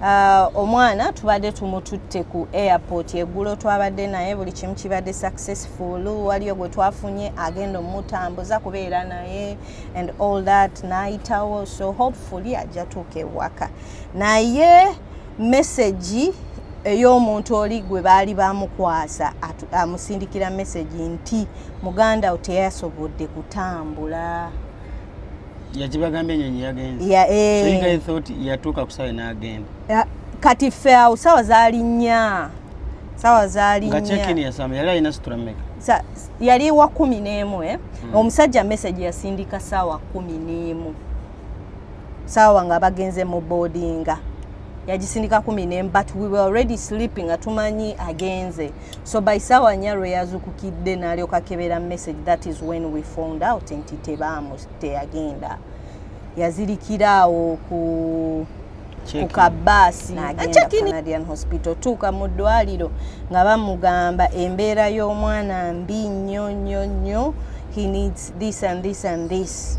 Uh, omwana tubadde tumututte ku airport eggulo twabadde naye buli kimu kibadde successful waliyo gwe twafunye agenda omutambuza kubeera naye and all that nayitawo so hopefully ajja tuuka ewaka naye messagi ey'omuntu oli gwe baali bamukwasa amusindikira messagi nti muganda wo teyasobodde kutambula yakibagambye enyonyi yagenze ya, eh. so you guys thought yatuuka ku sawa n'agenda ya, kati ffe awo sawa zalinnya sawa zalinnya nga check-in yasamba yali alina situra mmeka yali wa kumi n'emu eh? hmm. omusajja message yasindika saawa kumi n'emu saawa nga bagenze mu boardinga yagisindika kumi n'emu but we were already sleeping nga tumanyi agenze so by sawa nya lwe yazukukidde nalyoka kebera message that is when we found out nti tebaamu teyagenda yazirikira awo ku ku kabaasi canadian hospital tuuka mu ddwaliro nga bamugamba embeera y'omwana mbi nnyo nnyo nnyo he needs this and this and this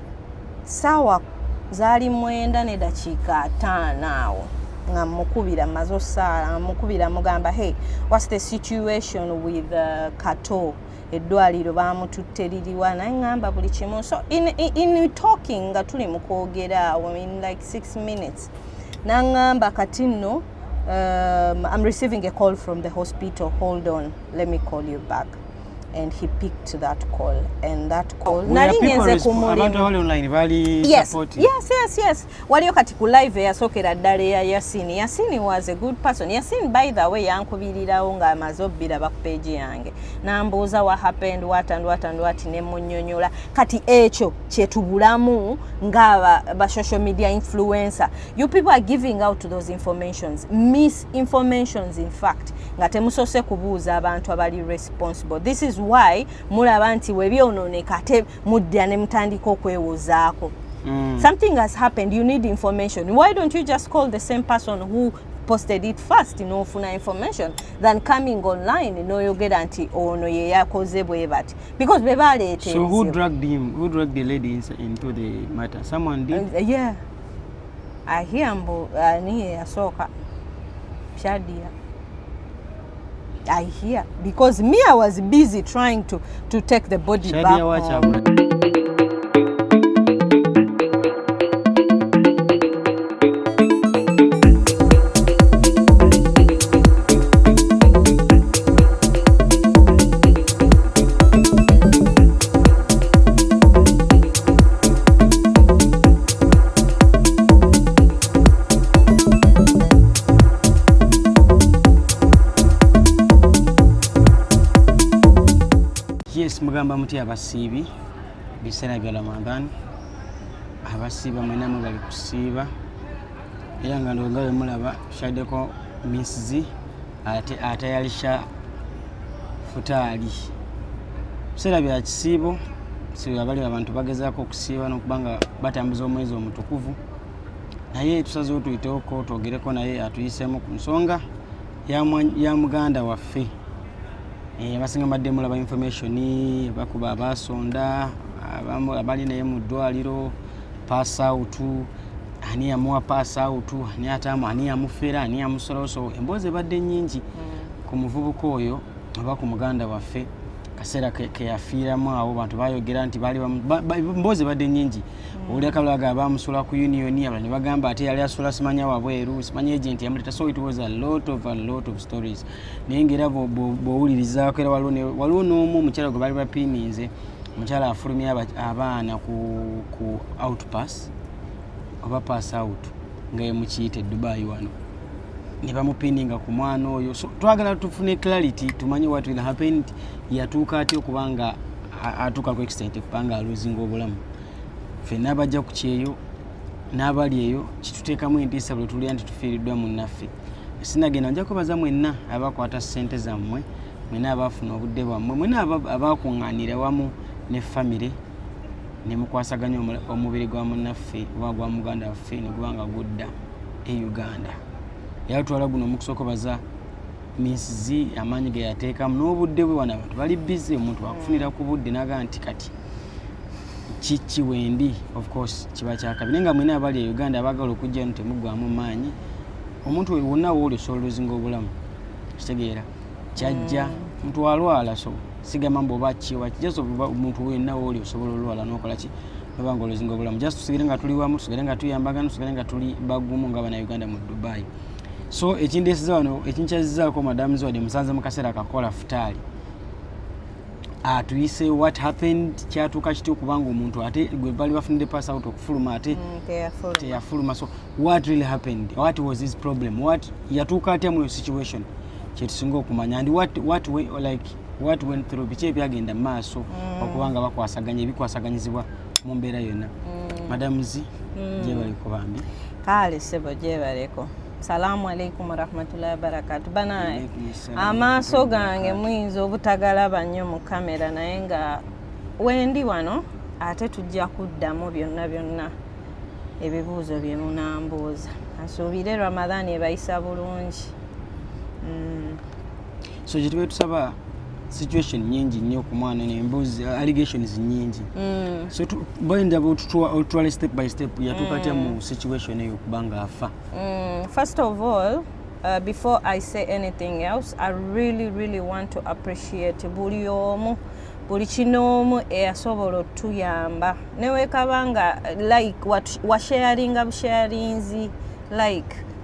saawa zaali mwenda ne dakiika ataano awo nga mukubira maze osaala mukubira mugamba hey whats the situation with uh, kato eddwaliro baamututte liriwa naye ŋŋamba buli kimu so in, in, in talking nga tuli mu kwogera awo in like six minutes naŋŋamba kati nno um, i'm receiving a call from the hospital hold on let me call you back and he picked that call and that call oh, nali ngenze ku mulimu abali online bali yes, support yes yes yes waliyo kati ku live yasokera ddala ya Yasin Yasin was a good person Yasin by the way yankubirirawo nga amaze obbira ba page yange nambuuza what happened what and what and what ne munyonyola kati ekyo kyetubulamu nga ba, ba social media influencer you people are giving out those informations miss informations in fact nga temusose kubuuza abantu abali responsible this is why mulaba nti webyonooneka ate mudda ne mutandika okwewozaako mm. something has happened you need information why don't you just call the same person who posted it first nofuna information than coming online noyogera nti ono yeyakoze bwe bati because bebaleeteso who dragged him who dragged the lady into the matter someone did uh, yeah ahia mbu ani uh, yeyasooka shadia I hear because me I was busy trying to to take the body Shadia back home. yes mugamba muti abasiibi biseera bya ramadan abasiiba mwenamu bali kusiiba era nga ndonga wemulaba shaddeko minsizi ate ate yali sha futaali biseera bya kisiibo siabali abantu bagezaako okusiiba nokuba nga batambuza omwezi omutukuvu naye tusazewo tuyitewoko twogereko naye atuyiseemu ku nsonga ya muganda waffe eh, abasinga mbadde mulaba information bakuba abasonda abali naye mu ddwaliro pasautu ani yamuwa paasi awutu ani ataamu ani yamufera ani yamusolowosowo emboozi ebadde nnyingi mm. ku muvubuka oyo oba ku muganda waffe kaseera keyafiiramu awo bantu bayogera nti mboozi ebadde nnyingi mm. owulira kabulaga abamusula ku unioni abala ne bagamba ate yali asula simanya wabweru simanya agenti yamuleta so it was a lot of a lot of stories naye ngaera bwowulirizaako era waliwo n'omu omukyala gwe bali bapiininze omukyala afulumya abaana ku outpass oba pass out nga yemukiyita edubayi wano nebamupininga ku mwana oyo so twagala tufune clarity tumanye what will happen nti yatuuka aty okuba nga atuuka ku extent okuba nga aluzinga obulamu fena abajja ku kyeyo n'abali eyo kituteekamu entiisa buli tulya nti tufiiriddwa munnaffe sinagenda nja kwebaza mwenna abakwata ssente zammwe mwena abaafuna obudde bwammwe mwena abakuŋŋaanira wamu ne famire ne mukwasaganya omubiri gwa munnaffe oba gwa muganda waffe ne guba nga gudda e uganda era twala guno mukusokobaza minsizi amaanyi ge yateekamu n'obudde bwe wana abantu bali bize omuntu wakufunira ku budde naga nti kati kiki wendi of course kiba kyakabi naye nga mwena abali e uganda abagala okujja no temuggwamu maanyi omuntu wonna wooli osobola oluzinga obulamu kitegeera kyajja mm. mtu alwala so sigamba mbu oba kiwa just omuntu wenna wooli osobola olwala nokola ki noba nga oluzinga obulamu just tusigere nga tuli wamu tusigere nga tuyambagana tusigere nga tuli bagumu nga bana uganda mu dubai so ekindesiza wano ekinkyazizaako madamu ziwade musanze mu kaseera kakola futaali atuyise what happened kyatuuka kitya okubanga omuntu ate gwe bali bafunide pass out okufuluma ate mm, teyafuluma so what really happened what was his problem what yatuuka atya muyo situation kyetusinga okumanya and what, what we, like, what went through biki ebyagenda maaso mm. okuba nga bakwasaganya ebikwasaganyizibwa mu mbeera yonna mm. madam z mm. gyebaleko bambi kale sebo gyebaleko salamu alaikum warahmatullahi wabarakatu banaye amaaso gange muyinza obutagalaba nnyo mu kamera naye nga wendi wano ate tujja kuddamu byonna byonna ebibuuzo bye munambuuza nsuubire ramadhan ebayisa bulungi mm. so kyetuba tusaba situation nyingi nnyo ku mwana nembuzi uh, allegations nyingi mm. so bayinza otutwale step by step yatuuka atya mu mm. situation eyo kubanga afa mm. first of all Uh, before I say anything else, I really, really want to appreciate buli omu buli kinoomu eyasobola otuyamba newekaba nga like washaringa busharinzi like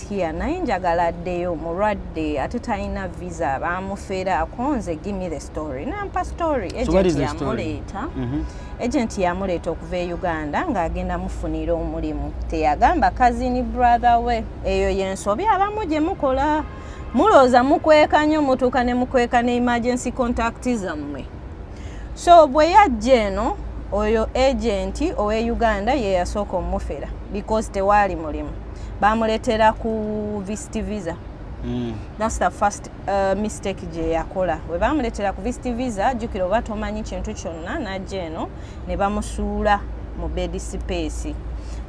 last year naye njagala addeyo mulwadde ate talina visa bamufera akonze gimme the story nampa story agent yamuleeta mhm. agent yamuleeta okuva e uganda ng'agenda mufunira omulimu teyagamba kazini brother we eyo yensobi abamu gye mukola mulooza mukweka nyo mutuuka ne mukweka ne emergency contact zammwe so bwe yajja eno oyo agenti owe uganda ye yasooka omufera because tewaali mulimu bamuletera ku vist visa mm. thats the first uh, mistake gye yakola we bamuletera ku vist visa jukira oba tomanyi kintu kyonna najja eno ne bamusuula mu bedisipeesi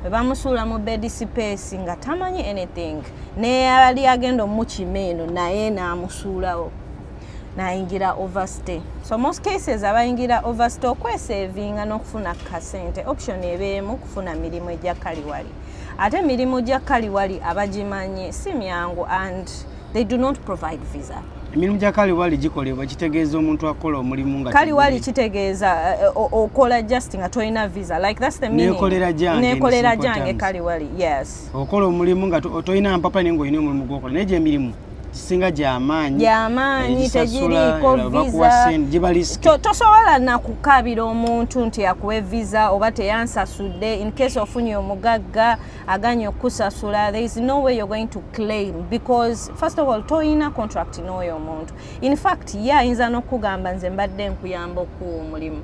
bwe bamusuula mu bedisipeesi nga tamanyi anything neyali agenda omukima eno naye n'amusuulawo nayingira overstay so most cases abayingira overstay okwesevinga n'okufuna kasente option ebeemu kufuna mirimu egya kaliwali ate mirimu gya kaliwali abagimanyi si myangu and they do not provide visa emirimu gya kaliwali gikolebwa kitegeeza omuntu akola omulimu nga kaliwali kitegeeza eh, eh, okola just nga tolina visa like that's the meaning nekolera jange nekolera jange kaliwali yes okola omulimu nga tolina mpapa naye nga olina omulimu gwokola naye gyemirimu kisinga gyamaanyi gyamaanyi tegiriiko visa tosobola nakukaabira omuntu nti akuwe visa oba teyansasudde in case ofunye omugagga aganye okukusasula there is no way you're going to claim because first of all toyina contract n'oyo omuntu in fact ye ayinza n'okukugamba nze mbadde nkuyamba okuwa omulimu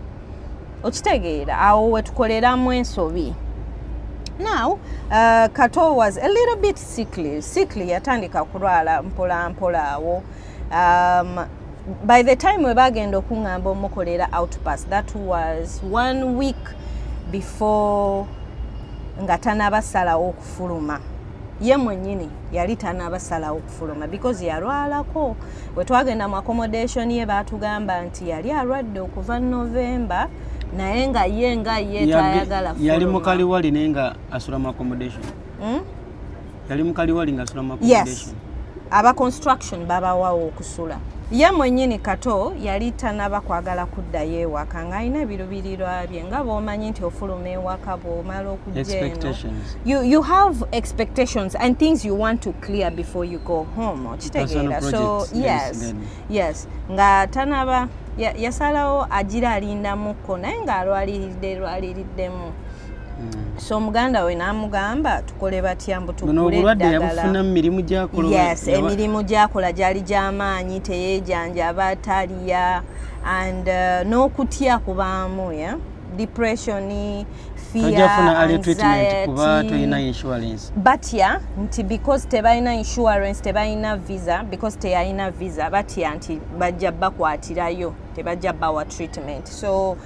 okitegeera awo wetukoleramu ensobi now uh, kato was a little bit Sikli sikli yatandika kulwala mpola mpola awo um, by the time we bagenda okuŋŋamba omukolera outpass that was one week before nga tanabasalawo okufuluma ye mwenyini yali tanabasalawo okufuluma because yalwalako wetwagenda mu accommodation ye batugamba nti yali alwadde okuva november naye nga ye nga ye tayagala yali mukaliwali naye nga asula mu accommodation hmm? yali mukaliwali nga asula yes aba construction babawawo okusula ye mwenyini kato yali tanaba kwagala kuddayo ewaka nga alina ebirubirirwa bye nga bwomanyi nti ofuluma ewaka bwomala okujeno you, you have expectations and things you want to clear before you go home okitegeera so yes yes nga tanaba yasalawo agira alindamukko naye ng'alwaliridde lwaliriddemu mm. so omuganda we n'amugamba tukole batya mbu tuguleddagalaemirimu gyakola gyali gy'amaanyi teyeejanjaba taliya and uh, n'okutya kubaamu ya yeah? depression fearbatya nti because tebalina insurance tebalina visa because teyalina visa batya nti bajja bakwatirayo tebajja bawa treatment so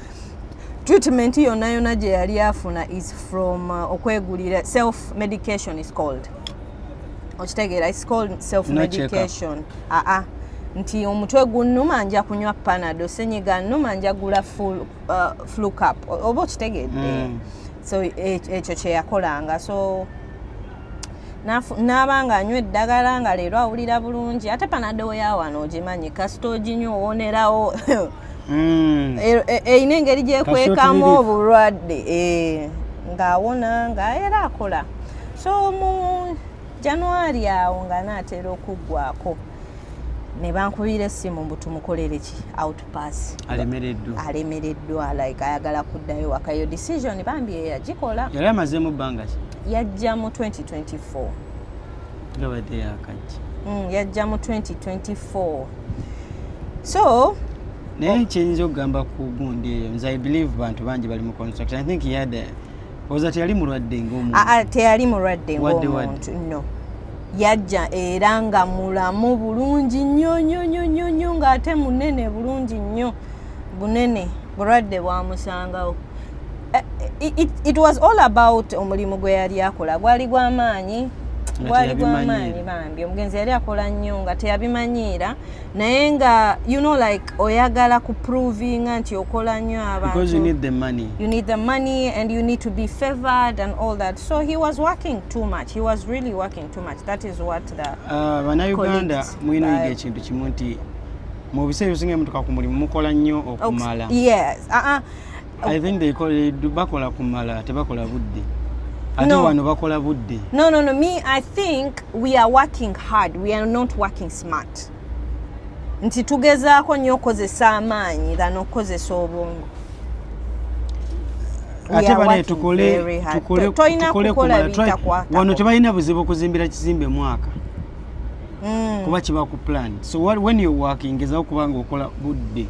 treatment yonna yonna gye yali afuna is from uh, okwegulira self medication is called okitegeera is called self medication aa ah, ah. nti omutwe gunnuma nja kunywa panado senyiga nnuma nja gula full uh, flu cap oba okitegedde mm. so e, ekyo kyeyakolanga so naaba nga anywa eddagala nga leero awulira bulungi ate panado yawano ogimanyi kasita oginywa owonerawo mm. e, e, erina engeri gyekwekamu obulwadde eh, ng'awona nga era akola so mu januari awo nga naatera okuggwako ne bankubira essimu mbu tumukolere ki out pass alemereddwa alemereddwa like ayagala kuddayo waka yo decision bambi yeyagikola yali amazemu bbanga ki yajja mu 2024 gabadde yakajja mm, yajja mu 2024 so naye kyenyinza okugamba ku gundi eyo nze i believe bantu bangi bali mu construction i think he had a, oza teyali mulwadde ngaomuntu ah, ah, teyali mulwadde ngaomuntu no yajja era nga mulamu bulungi nnyo nyo nyo nyo nyo ng'ate munene bulungi nnyo bunene bulwadde bwamusangawo eh, eh, it, it was all about omulimu gwe yali akola gwali gwamaanyi gwali gwamaanyi bambi omugenzi yali akola nnyo nga teyabimanyiira naye nga you know like oyagala ku provinga nti okola nnyo abantubeause you need the money you need the money and you need to be favored and all that so he was working too much he was really working too much that is what the uh, banauganda mwinoyiga ekintu kimu nti mu biseera ebisinga mutuka ku mulimu mukola nnyo okumala yes uh -uh. I think they call it bakola kumala tebakola budde. Ate no. wano bakola budde. No no no me I think we are working hard we are not working smart. Nti tugezaako nnyo okukozesa amaanyi than okukozesa obwongo. Ate bane tukole tukole tukole kumala try wano tebalina buzibu kuzimbira kizimbe mwaka. mm. kuba kiba ku plan so what, when you working ngezaho kubanga okola budde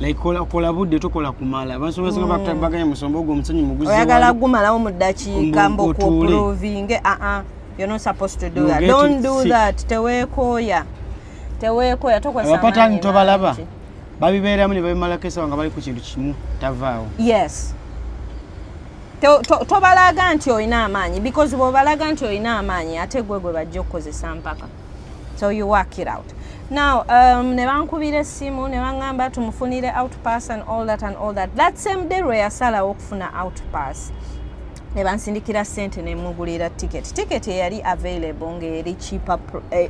like kola kola budde tokola kumala basobola mm. bakta baganya musombo ogwo omusanyi muguzi oyagala gumalawo mu ddakiika mbo ku provinge a uh-uh. a you're not supposed to do you that don't do sick. that tewekoya tewekoya tokola abapata ntobalaba babibeeramu ne babimalako esawa nga bali ku kintu kimu tavaawo yes tobalaga to, to nti olina amaanyi because bwobalaga nti olina amaanyi ate gwe gwe bajja okukozesa mpaka so you work it out now um, ne bankubira essimu ne baŋŋamba tumufunire outpass and all that and all that that same day lwe yasalawo okufuna outpass ne bansindikira sente ne mugulira ticket ticket eyali available ng'eri cheaper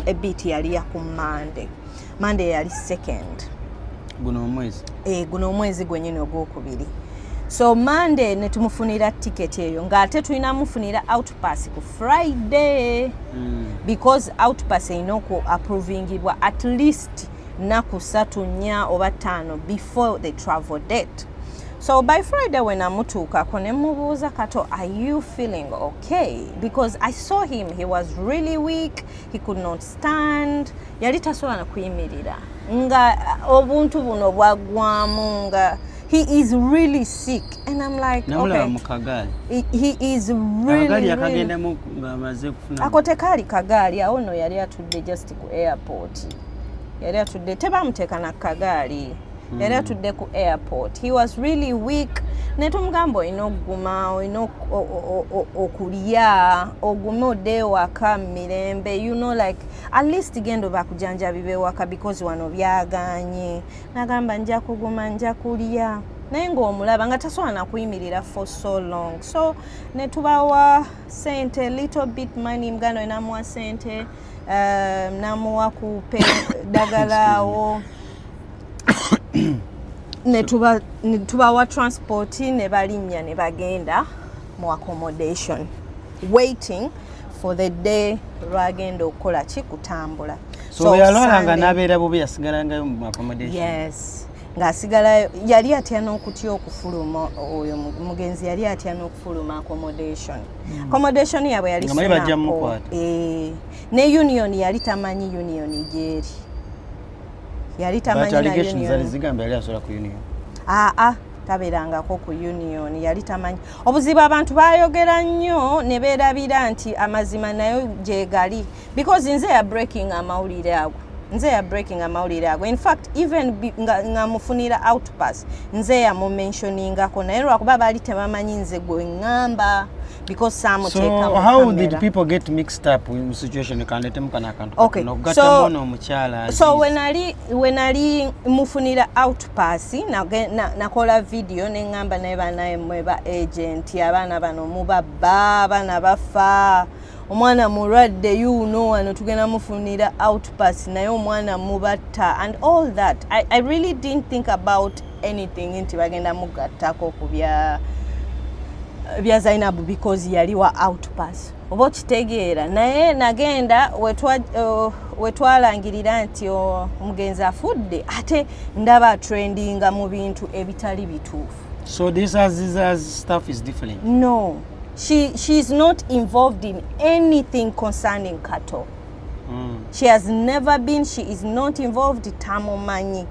ebit eh, yali ya ku monday mande yali second guno omwezi e, guno omwezi gwenyini ogwokubiri so mande netumufunira ticket eyo ngaate tulina mufunira outpass ku friday mm. because outpass erina oku approvingibwa at least naku satu nya oba taano before the travel date so by friday when amutuukako ne mubuuza kato are you feeling okay because i saw him he was really weak he could not stand mm. yali tasobola na kuyimirira nga uh, obuntu buno bwaggwamu nga he is really sick and i'm like okay mukagaali he is really yakagendemu ngamaze kufuna ako tekaali kagaali awo no yali atudde just ku airport yali atudde tebamuteeka na kagaali hmm. yali atudde ku airport he was really weak naye tumugamba olina okuguma olina okulya ogume odde ewaka mu mirembe you know like at least gendo bakujanjabiba ewaka because wano byaganye nagamba nja kuguma nja kulya naye ngaomulaba nga tasobola nakuyimirira for so long so netubawa sente little bit money muganda we namuwa sente uh, namuwa kupe dagalawo netubawa transport nebalinnya nebagenda mu accommodation waiting for the day lwagenda okukola ki kutambula so yalwalanga nabeera bubi yasigalangayo mu accommodation yes ng'asigalayo yali atya n'okutya okufuluma oyo mugenzi yali atya n'okufuluma accommodation hmm. accommodation yaabwe yali sinapo eh, ne union yali tamanyi union gyeri yali tamanyi na union zigamba yali asola ku union aa ah, ah. taberangako ku union yali tamanyi obuzibu abantu bayogera nnyo ne beerabira nti amazima nayo gyegali because nze ya breaking amawulire ago nze ya breaking amawulire ago infact even nga mufunira outpass nze yamumentioningako naye lwakuba baali tebamanyi nze gwe ŋŋamba because some so take how camera. did people get mixed up in situation kanetemu kana kantu okay. no gata so, mono muchala so when ali when ali mufunira out pass na na, na kola video ne ngamba naye banaye mweba agent abana bano muba baba na bafa omwana mulwadde you know wano tugenda mufunira out pass naye omwana mubatta and all that I, i really didn't think about anything nti bagenda mugattako ku bya bya zainabu because yali wa outpass oba okitegeera naye nagenda uh, wetwalangirira nti oh, omugenzi afudde ate ndaba trendinga mu bintu ebitali bituufu so this as, this as stuff is different no she, she is not involved in anything concerning cattle mm. she has never been she is not involved tamumanyi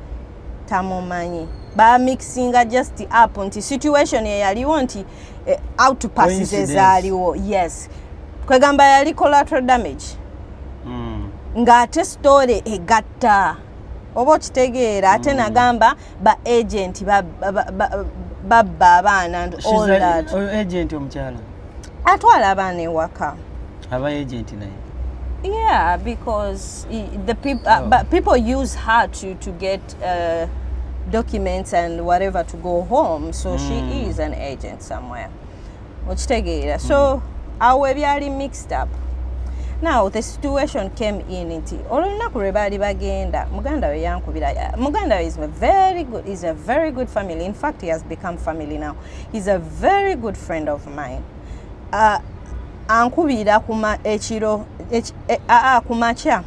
tamumanyi bamixinga just up nti situation eyaliwo nti eh, outpass zezaaliwo yes kwegamba yali collateral damage mm. ng'ate story egatta oba okitegeera ate mm. nagamba ba agent babba abaana and all that agent omukyala atwala abaana ewaka aba agenti naye yeah because the people, uh, oh. but people use her to, to get uh, documents and whatever to go home so mm. she hmm. is an agent somewhere okitegeera so mm. awo ebyali mixed up now the situation came in nti olunaku lwe baali bagenda muganda we yankubira muganda we is a very good, is a very good family in fact he has become family now He's a very good friend of mine. Uh, ankubira kuma ekiro e, a ku makya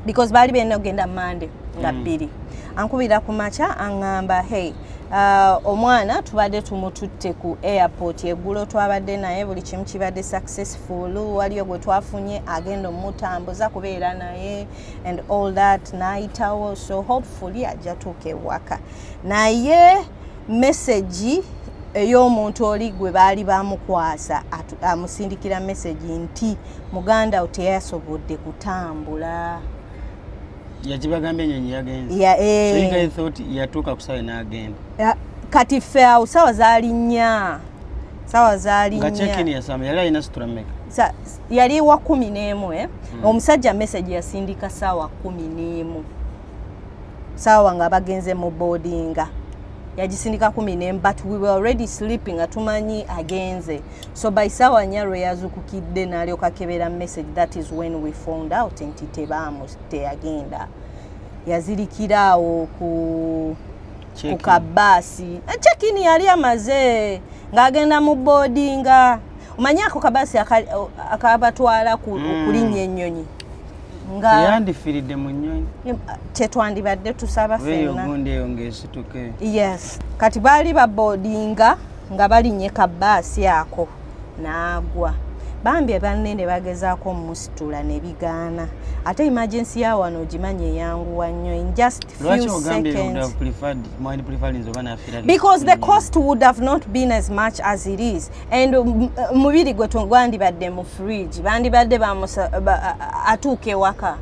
because baali bena ogenda mande nga mm. bbiri mm. ankubira ku makya aŋŋamba hey uh, omwana tubadde tumututte ku airport eggulo twabadde naye buli kimu kibadde successful waliyo gwe twafunye agenda omutambuza kubeera naye and all that nayitawo so hopefully ajja tuuka ewaka naye mesegi ey'omuntu oli gwe baali bamukwasa amusindikira mesegi nti muganda wo teyasobodde kutambula yakibagambye enyonyi yagenzyatuuka eh. kusawe nagenda kati ffe awo sawa zaali nnya sawa zaali yali wa kumi n'emu eh? hmm. omusajja mesegi yasindika saawa kumi n'emu saawa nga bagenze mu boardinga yagisindika kumi nemu but we were already sleeping nga tumanyi agenze so by saawa nya lwe yazukukidde nalyoka kebera message that is when we found out nti tebaamu teyagenda yazirikira awo ku ku kabaasi eh, chekini yali amaze ng'agenda mu boardinga omanyi ako kabaasi akabatwala mm. okulinnya ennyonyi nga yandifiridde mu nnyonyi kyetwandibadde tusaba fennagundi eyo ngaesituke yes kati baali babodinga nga balinye kabaasi ako naagwa bambi banne ne bagezaako omusitula ne bigaana ate emergency ya wano ogimanyi eyanguwa nnyo in just few seconds because the cost would have not been as much as it is and um, uh, mubiri gwe gwandibadde mu fridge bandibadde atuuka ewaka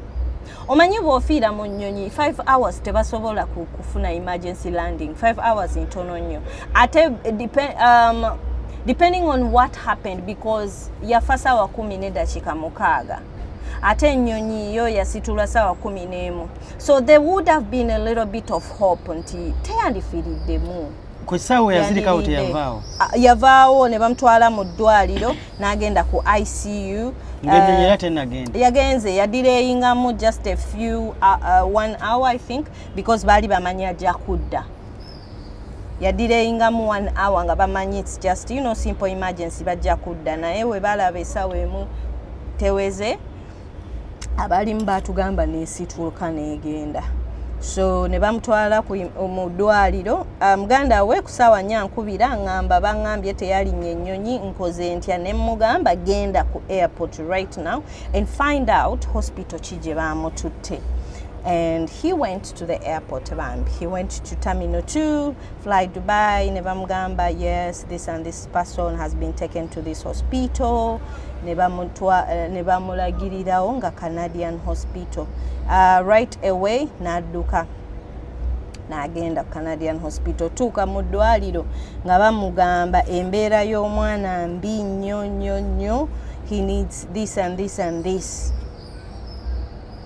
omanyi bwofiira mu nnyonyi 5 hours tebasobola kufuna emergency landing 5 hours ntono nnyo ate um, depending on what happened because yafa sawa kumi nedakiika mukaaga ate ennyonyi yo yasitulwa sawa kumi n'emu so there would have been a little bit of hope nti teyandifiriddemu ku kisaawe yazirikawo teyavaawo ah, yavaawo ne bamutwala mu ddwaliro n'agenda ku icu ngenyonyera eh, tenagenda yagenze yadireyingamu just a few uh, uh, one hour i think because baali bamanyi ajja kudda yadireyingamu one hour nga bamanyi its just you know simple emergency bajja kudda naye we balaba esawa emu teweze abaalimu baatugamba neesituuka neegenda so ne bamutwala mu ddwaliro ah, muganda we ku saawa nya nkubira ngamba bangambye teyalinya ennyonyi nkoze ntya ne mmugamba genda ku airport right now and find out hospital ki gye baamututte and he went to the airport bambi he went to terminal 2 fly dubai ne bamugamba yes this and this person has been taken to this hospital ne eh, bamulagirirawo nga canadian hospital uh, right away n'adduka n'agenda ku canadian hospital tuuka mu ddwaliro nga bamugamba embeera y'omwana mbi nnyo nnyo nnyo he needs this and this and this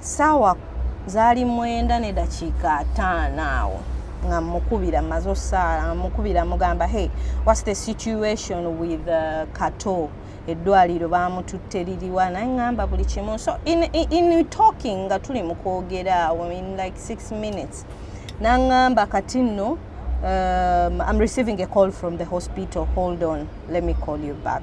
saawa zaali mwenda ne dakiika ataano awo nga mukubira maze osaala nga mukubira mugamba hey whats the situation with uh, kato eddwaliro bamututte liriwa naye ŋamba buli kimu so in, in, in talking nga tuli mu kwogera awo in like six minutes naŋamba kati nno um, i'm receiving a call from the hospital hold on let me call you back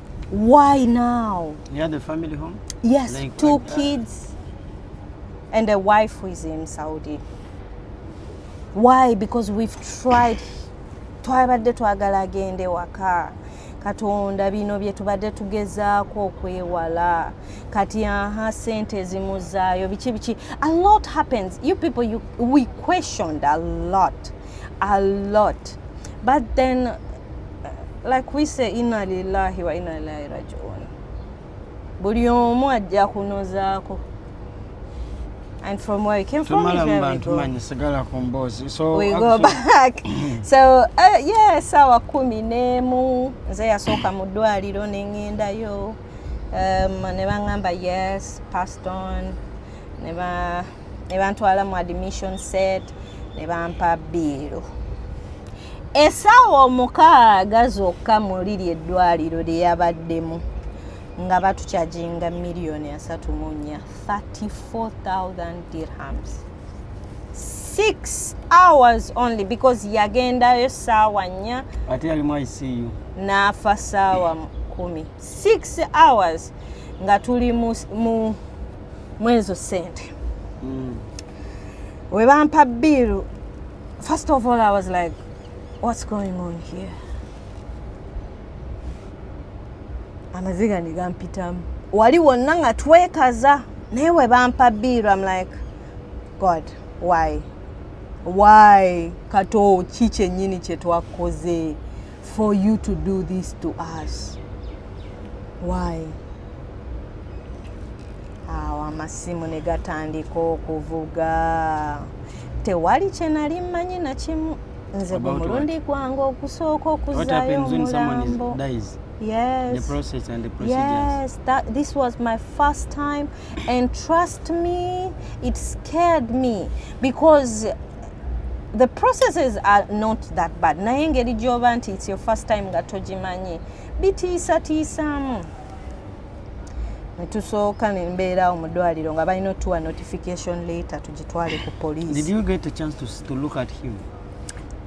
Why now? Near the family home? Yes, like two like kids and a wife who is in Saudi. Why? Because we've tried twabadde twagala agende waka katonda bino bye tubadde tugezaako okwewala kati aha sente ezimuzaayo biki biki a lot happens you people you, we questioned a lot a lot but then like we say inna lillahi wa inna ilaihi rajiun buli omu ajja kunozaako and from where you came from is where we go. Kumbozi. So we go back. so uh, yeah, sawa kumi nemu nze yasooka mu ddwaliro ne ngendayo um, ne bangamba yes passed on ne ba ne bantwala mu admission set ne bampa biiru esaawa omukaaga zokka muli ly eddwaliro lye yabaddemu nga batukyajinga miliyoni asatu mu nnya 34000 dirhams six hours only because yagendayo saawa nnya ate yalimu icu n'afa saawa kumi six hours nga tuli mu mwezo sente mm. webampa biiru first of all i was like what's going on here amaziga negampitamu wali wonna nga twekaza naye webampa biiru am like god why why kato ki kyenyini kyetwakoze for you to do this to us why awo amasimu ne gatandika okuvuga tewali kye nali mmanyi na kimu nze ku mulundi gwange okusooka okuzaayo omulambo yes the process and the procedures yes that this was my first time and trust me it scared me because the processes are not that bad naye engeri gyoba nti its your first time nga togimanyi bitiisatiisaamu netusooka nembeerawo mu ddwaliro nga balina otuwa notification later tugitwale ku police Did you get a chance to, to look at him?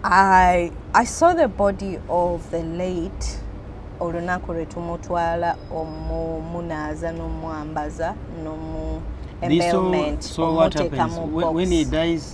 I, I saw the body of the late olunaku lwe tumutwala omumunaaza n'omwambaza n'omu This so, embailment so what omuteeka happens mu when, when he box dies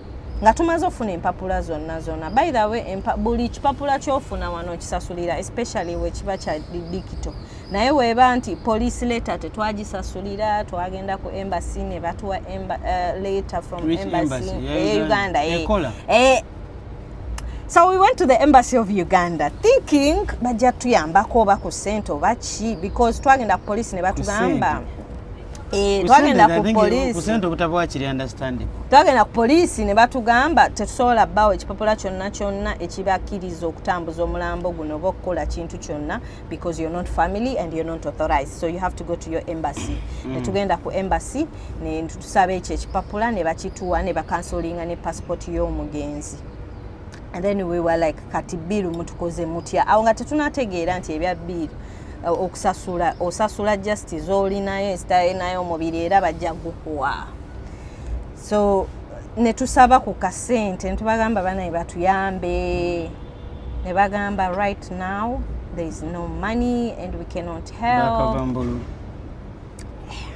nga tumaze ofuna empapula zonna zonna by the way empa, buli kipapula kyofuna wano kisasulira especially wekiba kya dikito naye weba nti police letter tetwagisasulira twagenda ku embassy ne batuwa emba, uh, letter from Which embassy, embassy? Yeah, e uganda e, e, so we went to the embassy of uganda thinking bajja tuyambako oba ku sente oba ki because twagenda ku police ne batugamba Eh, twagenda ku poliisi kusente obutabo wakiri understanding twagenda ku poliisi ne batugamba tetusobola bawo ekipapula kyonna kyonna ekibakkiriza okutambuza omulambo guno oba okukola kintu kyonna because you're not family and you're not authorized so you have to go to your embassy mm. netugenda ku embassy netusaba ekyo ekipapula ne bakituwa ne bakansolinga ne passport y'omugenzi and then we were like kati biiru mutukoze mutya awo nga tetunategeera nti ebya biiru eh, okusasula osasula just zolinayo ensitayo nayo omubiri era bajja gukuwa so netusaba ku kasente netubagamba banaye batuyambe nebagamba right now there is no money and we cannot help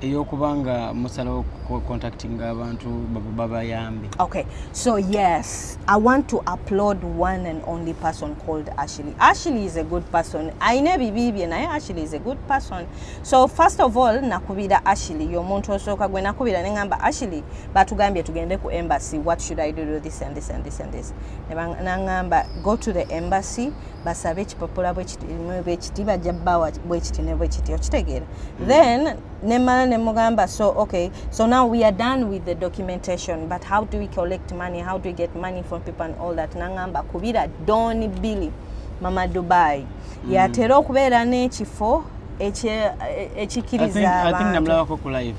eyokuba nga musalawo contacting abantu babayambe okay so yes i want to applaud one and only person called ashley ashley is a good person ayina ebibi bye naye ashley is a good person so first of all nakubira ashley yomuntu osooka gwe nakubira ne ngamba ashley batugambye tugende ku embassy what should i do, do this and this and this and this nangamba go to the embassy basabe ekipapula bwekiti bajja bawa bwekiti ne bwekiti okitegeera mm. then nemala nemugamba so okay so now we are done with the documentation but how do we collect money how do we get money from people and all that nangamba kubira don billy mama dubai mm. yatera okubeera n'ekifo ekikiriza abantu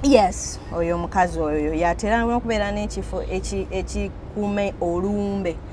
yes oyo omukazi oyo yatera okubeera n'ekifo ekikuume olumbe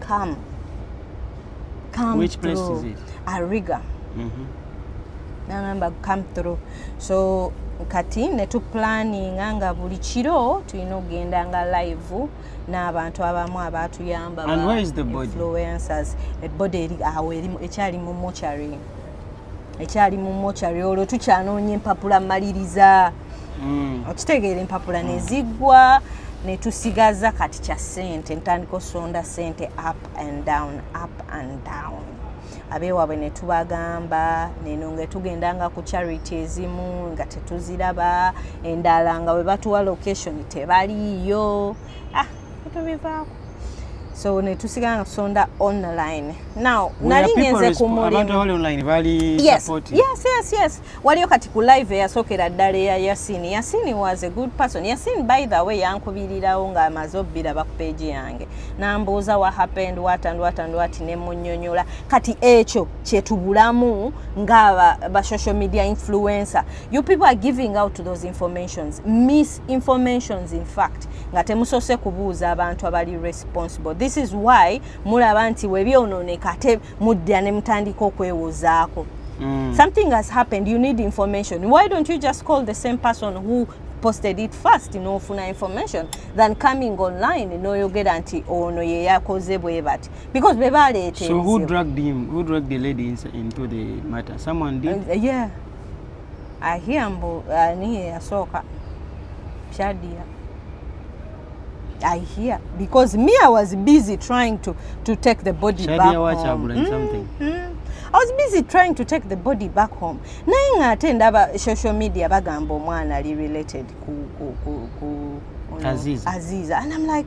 come come which place through. is it ariga mm -hmm. nagamba come through so kati ne tu planning nga buli kiro tulina okugenda nga live n'abantu abamu abaatuyamba influencers ebody awo ekyali mu mochary ekyali mu mochari olwo tukyanoonya empapula maliriza mm. okitegeera empapula neziggwa netusigaza kati kya sente ntandika osonda sente up and down up and down abeewaabwe ne tubagamba neno nga tugenda nga ku charity ezimu nga tetuziraba endala nga bwe batuwa location tebaliiyo ah, tubivaako so netusigala nga tusonda online now nali ngenze ku mulimuyesyesyes waliyo kati ku live eyasookera ddala eya yasini yasini was a good person yasini by the way yankubirirawo nga amaze obbira bakupeegi yange nambuuza wa happened wat and wat and wat nemunyonyola kati ekyo kyetubulamu nga ba social media influencer you people are giving out those informations miss informations in fact nga temusose kubuuza abantu abali responsible this is why mulaba nti webyonooneka ate mudda ne mutandika okwewozaako mm. something has happened you need information why don't you just call the same person who posted it first nofuna information than coming online noyogera nti ono yeyakoze bwe bati because bebaleeta so who dragged him who dragged the lady into the matter someone did uh, yeah ahia mbu ani ah, yasooka shadia I hear because me I was busy trying to to take the body Shadia back home. Mm, something. Mm. I was busy trying to take the body back home. Naye nga ate ndaba social media bagamba omwana ali related ku ku ku, ku Aziza. Aziza. And I'm like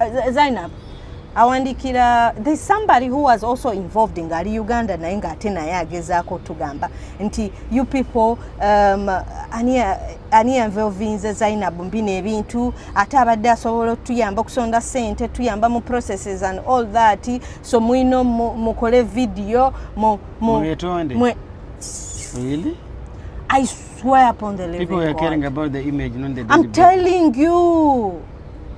uh, Zainab awandikira the somebody who was also involved ngaali uganda naye ngaate naye agezaako tugamba nti you people um, ani yanveovinze zainab mbi nebintu ate abadde asobola otuyamba okusonda sente tuyamba mu processes and all that so mwino mukole video mu, mu, mu, really? I swear upon the living God. People are caring about the image, not the I'm telling you.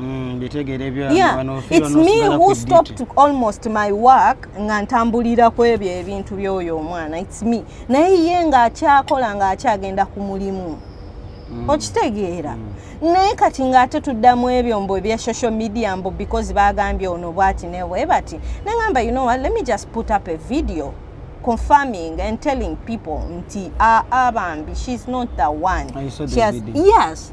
Mm, yeah, it's me who stopped almost my work nga ntambulira ku ebyo ebintu by'oyo omwana it's me naye ye ng'akyakola ng'akyagenda ku mulimu mm. okitegeera mm. naye kati ng'ate tuddamu ebyo mbu ebya social media mbu because baagambye ono bwati newe bati nengamba you know what let me just put up a video confirming and telling people nti aa ah, ah, bambi she's not the one she has, yes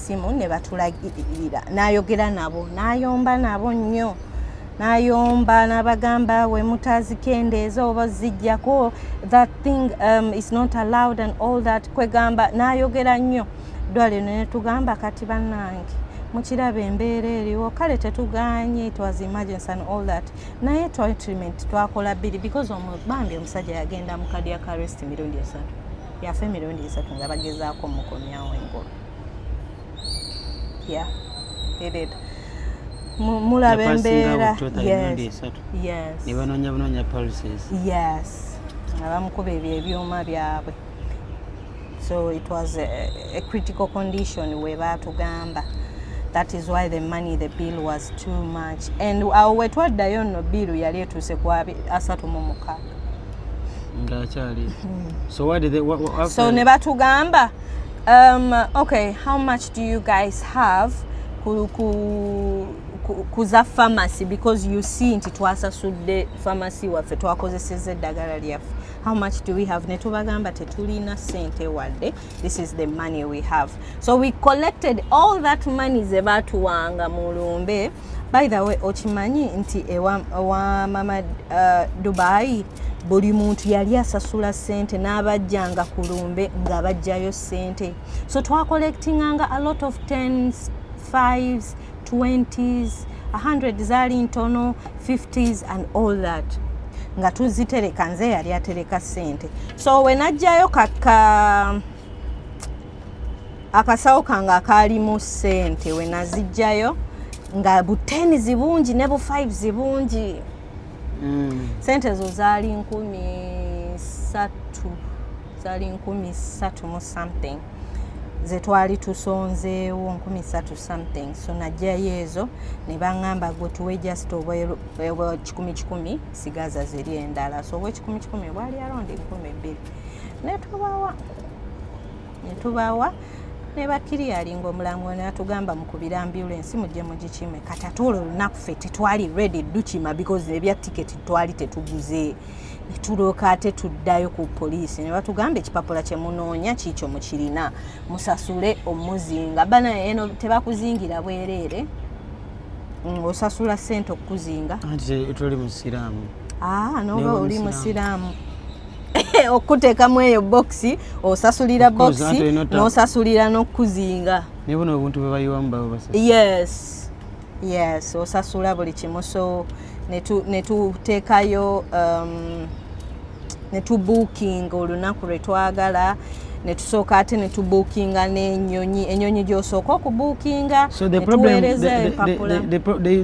essimu ne batulagirira n'ayogera nabo n'ayomba nabo nnyo n'ayomba n'abagamba we mutazikendeeza oba zijjako that thing um, is not allowed and all that kwegamba n'ayogera nnyo ddwaliro ne tugamba kati bannange mukiraba embeera eriwo kale tetuganye it was emergency and all that naye treatment twakola bbiri because bambi omusajja yagenda mu kadiakarest mirundi esatu yafa emirundi esatu nga bagezaako mukomyawo engolo yeah he did mulaba embeera ne banoonya bunoonya pulses yes nga bamukuba ebyo ebyuma byabwe so it was a, a critical condition we baatugamba that is why the money the bill was too much and awo wetwaddayo nno bill yali etuuse ku asatu mu mukaaga ngaakyali hmm. so ne batugamba um, okay how much do you guys have ku, ku kuza pharmacy because you see nti twasasudde pharmacy waffe twakozeseza eddagala lyaffe how much do we have netubagamba tetulina sente wadde this is the money we have so we collected all that money zebatuwanga mu lumbe by the way okimanyi nti ewa, ewa mama uh, dubai buli muntu yali asasula sente n'abajjanga ku lumbe nga bajjayo sente so twacollectinganga a lot of tens fives twenties a hundred zaali ntono fifties and all that nga tuzitereka nze yali atereka sente so wenajjayo kaka akasawo kange akaalimu sente wenazijjayo nga buteni zibungi ne bu five zibungi mm. sente ezo zaali nkumi satu zaali nkumi satu mu something zetwali tusonzeewo nkumi satu something so najjayo ezo ne baŋŋamba gwe tuwe just obwekikumi kikumi sigaza ziri endala so obwekikumi kikumi obwali arondi nkumi bbiri netubawa netubawa nebakiriyali nga omulamwa natugamba mukubira ambulensi mujje mugikime kati ate olwo olunaku fe tetwali redi dukima because ebya tiketi twali tetuguze netulooka ate tuddayo ku poliisi ne batugamba ekipapula kye munoonya kiikyo mukirina musasule omuzinga bana eno tebakuzingira bwereere mm, osasula sente okukuzinga tuli musiraamu ah, noba oli musiraamu okukuteekamu eyo bokisi osasulira bokisi n'osasulira n'okukuzinga naye buno obuntu bwe bayiwamu babasa yes yes osasula buli kimu so netuteekayo um, netubuukinga olunaku lwe twagala netusooka ate netubuukinga n'enyonyi enyonyi gyosooka okubuukinga netuweereza empapula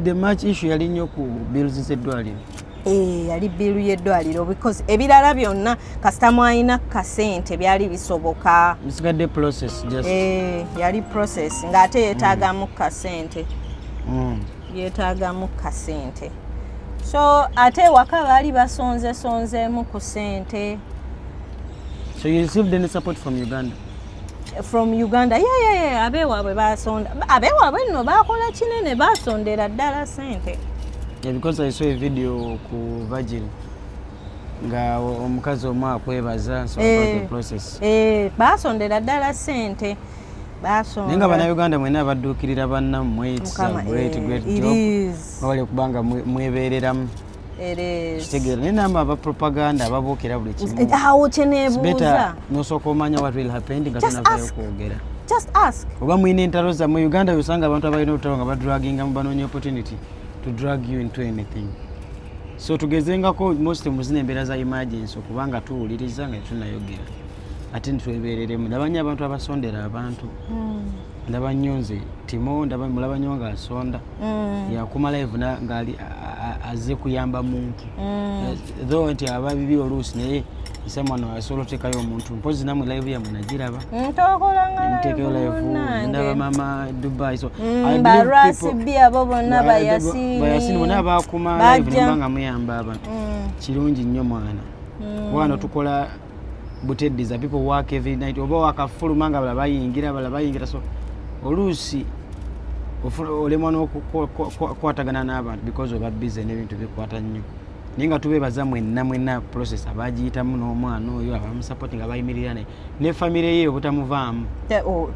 the match issue yali nnyo ku bills z'eddwaliro Eh, yali biiru y'eddwaliro because ebirala byonna kasita mwalina kasente byali bisoboka bisigadde process just eh, yali process ng'ate yeetaagamu mm. kasente mm. yeetaagamu kasente so ate ewaka baali basonzesonzeemu ku sente so you received any support from uganda from uganda yeyeye abewaabwe basonda abewaabwe nno bakola kinene basondera ddala sente because i saw a video ku virgil nga omukazi omu akwebaza eh, eh, basondera ddala sente naye nga banauganda mwena abadduukirira bannammwe kubanga mwebeereramu kitegeera naye namba aba propaganda ababuukira buli kimuawo kyenebuuza nosooka omanya what will happen nga tonavayo kwogera just ask oba mulina entalo zammwe uganda yosanga abantu abalina olutalo nga badraginga mu banoonya opportunity to drag you into anything so tugezengako most muzina embeera za emergency okubanga tuwuliriza nga tunayogera ate nitwebereremu ndaba nnyo abantu abasondera abantu hmm. ndaba nnyo nze timo ndaba mulaba nnyo nga asonda mm. yakuma live ngaali azze kuyamba muntu mm. eh, though nti aba bibi oluusi naye someone asobola otekayo omuntu mpozi namwe live yamwe nagiraba ntekeyo live ndaba mama dubai so mm, barasibi abo bonna bayasini bona bakuma live nembanga muyamba abantu kirungi nnyo mwana kubanga tukola buteddiza people work every night oba wakafuluma nga bala bayingira bala bayingira so oluusi olemwa n'okukwatagana n'abantu because oba bize n'ebintu bikwata nnyo naye nga tubeebaza mwenna mwenna process abagiyitamu n'omwana oyo abamusapoti nga bayimirira naye ne famire ye obutamuvaamu oh,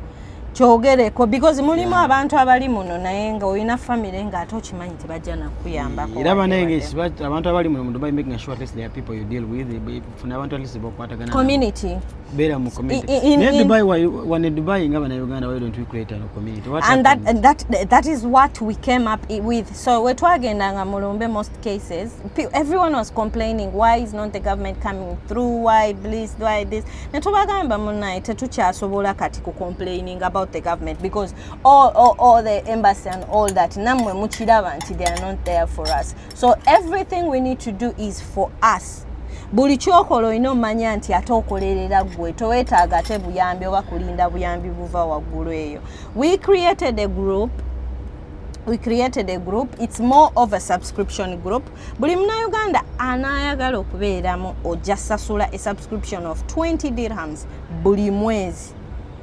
kyogereko because mulimu abantu abali muno naye nga olina famire nga ate okimanyi tebajja nakuyambako era banaye abantu abali muno mu dubai making sure at least there are people you deal with funa abantu at bokwatagana community bera mu community in, in, in, Dubai why one Dubai ngaba na Uganda why don't we create a community what and that, and that that is what we came up with so we twagenda nga mulumbe most cases everyone was complaining why is not the government coming through why please why this na tubagamba munaye tetukyasobola kati ku complaining about the government because all, all, all the embassy and all that namwe mukiraba nti they are not there for us so everything we need to do is for us buli kyokola olina omanya nti ate okolerera gwe towetaaga ate buyambi oba kulinda buyambi buva waggulu eyo we created a group we created a group it's more of a subscription group buli munauganda anayagala okubeeramu ojja sasula a subscription of 20 dirhams buli mwezi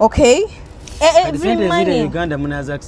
okay eh, eh, every money uganda munaza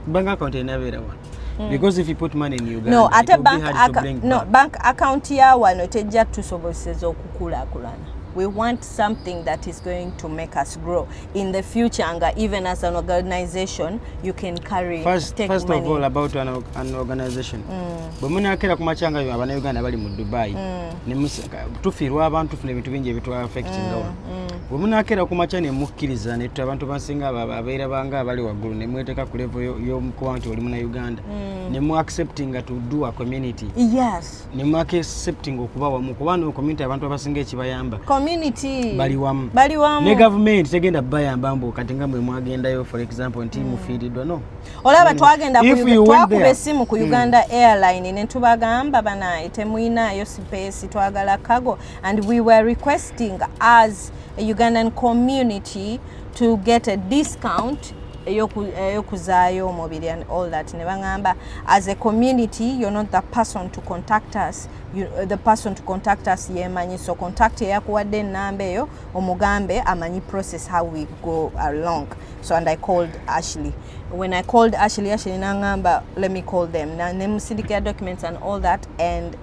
bank account enabera wa Mm. because if you put money in Uganda no ate bank account no bank account ya wano tejja tusobozesa okukulakulana we want something that is going to make us grow in the future and even as an organization you can carry first, take first money. of all about an, an organization mm. bwe munakera ku makyanga yo abana uganda bali mu dubai mm. tufiirwa abantu funa ebintu bingi ebitwa affectinga mm. mm. bwe munakeera ku makya ne mukkiriza ne tuta abantu bansinga abeera banga abali waggulu ne mweteeka ku levo y'omukuba nti oli muna uganda mm. ne mu acceptinga to do a community yes ne mu acceptinga okuba wamu kuba no community abantu abasinga ekibayamba community bali wamu bali wamu ne government tegenda bayamba mbu kati nga mwe mwagendayo for example nti mm. mufiiridwa no olaba twagenda twakuba essimu ku mm. uganda mm. airline ne tubagamba banaye temuyinayo sipeesi twagala kago and we were requesting as a ugandan community to get a discount eyokuzaayo omubiri and all that ne baŋamba as a community you're not the person to contact us you, uh, the person to contact us yemanyi so contact eyakuwadde enamba eyo omugambe amanyi process how we go along so and i called ashley when i called ashley ashley naŋamba let me call them nemusindikira documents and all that and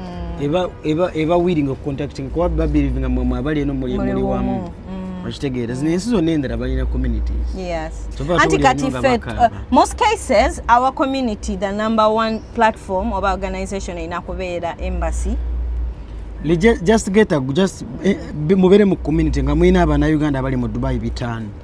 mm. eba eba eba willing of contacting kwa babiri vinga mwe mwabali eno muli muli wamu mm. okitegeera zino ensi zonna endala balina communities yes anti kati fe uh, most cases our community the number one platform oba organization erina kubeera embassy just get a just eh, mubere mu community nga mulina abana uganda abali mu dubai bitano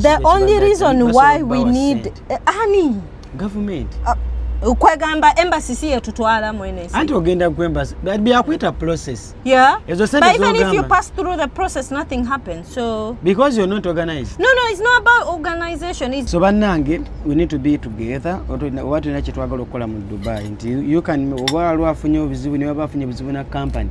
the only reason why we need eh, ani government ah, kwegamba embassy si yetutwala mwene anti ogenda ku embassy byakwita process yeah ezo sente but even if you pass through the process nothing happens so because you're not organized no no it's not about organization it's so banange we need to be together oba tulina kyetwagala okukola mu dubai nti you can oba lwafunye obuzibu ne baba afunye obuzibu na company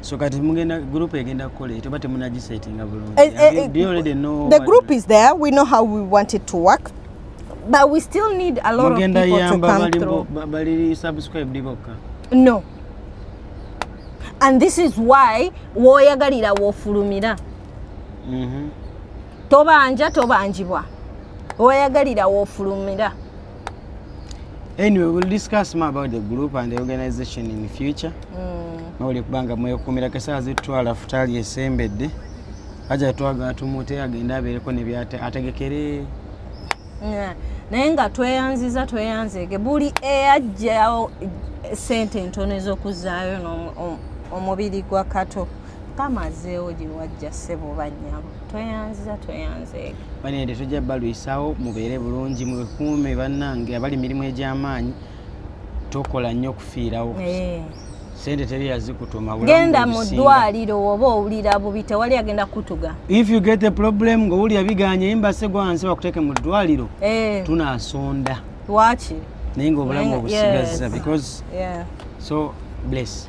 So kati mugenda group egenda kukola eto bate munagisetting bulungi. Eh, eh, eh, do you already know the group is there. We know how we want it to work. But we still need a lot of people to come through. Bali subscribe diboka. No. And this is why woyagalira wofulumira. Mhm. Tobanja tobanjibwa. Woyagalira wofulumira. anyway we'll discuss more about the group and the organization in the future mawuli mm. kubanga mwekuumira kesaawa zitutwala futaali esembedde aja twagala tumute agende abeereko nebyategekere naye nga tweyanziza tweyanzege buli eyajjawo sente entono ez'okuzaayo omubiri gwa kato mukama azeewo gye wajja ssebo oba nnyabo tweyanziza tweyanzeega banende tujja balwisawo mubeere bulungi mwekuume bannange abali mirimu egy'amaanyi tokola nnyo okufiirawo eh. sente teri yazikutuma genda mu ddwaliro oba owulira bubi tewali agenda kutuga if you get a problem ng'owulira biganye yimbase gwansi bakuteeke mu ddwaliro eh. tunasonda lwaki naye ng'obulamu obusigaza because so bless